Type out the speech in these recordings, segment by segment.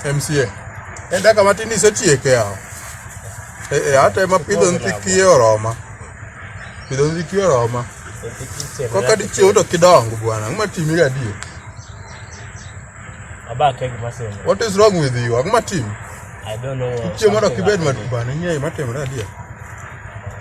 MCA. En daka matin isetieke yawo. Eh, eh, hata ema pidho nthi kiye oroma. Pidho nthi kiye oroma. Koka dichiew to kidongo bwana. Ng'ma timi ga die. Abake gima sema. What is wrong with you? Ng'ma timi? I don't know. Kichiew mondo kibed matuba ni ng'e matimre adie.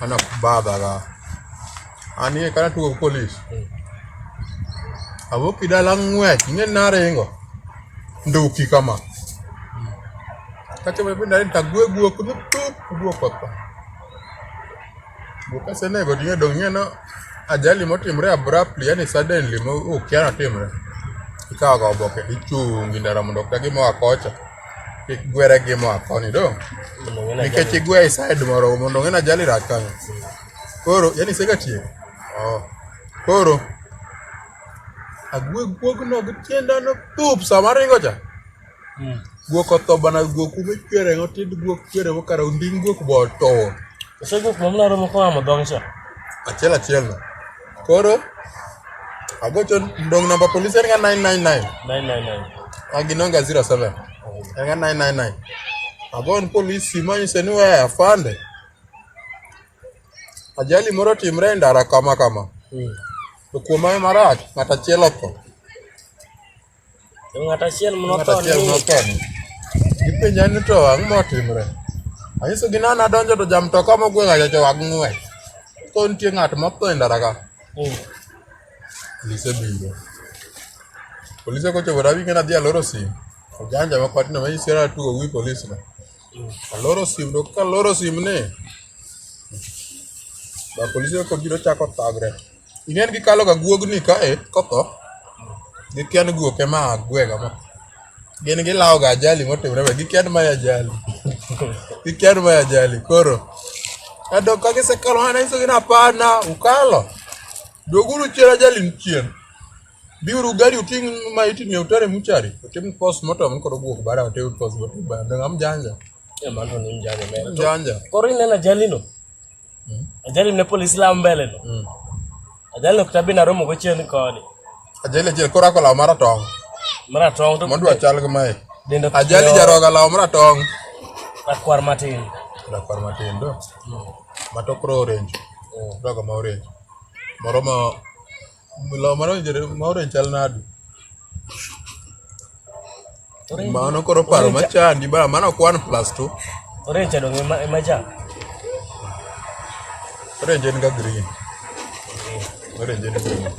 anakubadhaga ani e kana tugo polis abo kidala ng'wech ing'e naringo nduki kama kachomo piny narin tagwe guok ni tup guok otho guok kasenego ting'e dong' ing'e no ajali motimre abruptly yani suddenly mo ukia notimre ikawoga oboke ichungi ndara mondo okdagi moa kocha kik gwere gi moa koni do nikech igwe e side moro mondo ng'e na jali rach kanyo koro yani sega tiyo oh. koro agwe guog no gi tienda no pup sama ringo cha hmm. guok otho bana guok ume chwere ngo tid guok chwere mo kara unding guok bo to ose guok mo mlaro mo kwa mo dong cha achiel achiel no Koro agocho ndong' namba polis en ga 999 999 aginonga 07 en ga 999 agon polis simo nyise ni we afande ajali moro otimre e ndara kama kama to kuom hayo marach ng'at achiel otho Ng'at achiel motho ni. Gipenja ni to ang'o motimre? Anyiso gi nana donjo to ja mtoka mogwega cha to wag ng'we. To nitie ng'at motho e ndara ka. Hmm. Polise biro. Polise kochopo rabi ng'ena dhi aloro sim. Ojanja ma kwati na mayisi ra tugo wi polise na. Hmm. Aloro sim to ka aloro sim ni. Ba polise ko biro chako tagre. Ing'eni gikalo ga guogni kae kotho gikia ni guok ema gwega ma gin gilawo ga ajali motimre be gikia ni mae ajali gikia ni mae ajali koro kado ka gisekalo hana iso gin apana ukalo doguru chien ajali ni chien biuru gari uting' ma iting'e utere muchari utim post mortem ni koro guok bara utim post mortem bara ngam janja Mano ni mjane mera. janja Koro ineno ajalino? Ajali ne polisi la mbele no. Mm. Ajali no kitabi na romo gochien koni. Ajali achiel koro ako law maratong'. Maratong' to mondwa chal gi mae. Dendo ajali jaroga law maratong'. Rakwar matin. Rakwar matin do. Mm. Matokro orange. Mm. Doga ma orange. Moro ma Law mar orange ma orange chal nadi? Mano koro paro ma chandi ba mano ok one plus two. Orange dong ema ema ja. Orange en ga green. Orange en green.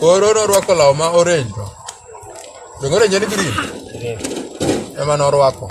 Koro norwako law ma orange to. Donge orange en green? Ema norwako.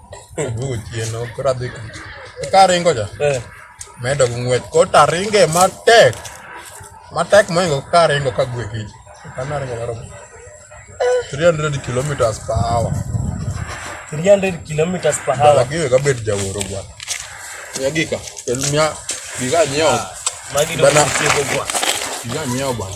Ochieno koro adhi tich. Karingo cha, Eh. medo gi ng'wech. Koro to aringe matek. Matek mohingo karingo ka gwe kich. Kama aringo laro. 300 kilometers per hour. 300 kilometers per Bala hour. giwe kabet jaworo bwana. Mia gika. Kel mia gika nyiewo. Magi do Bana. tieko kwa. Gika nyiewo bwana.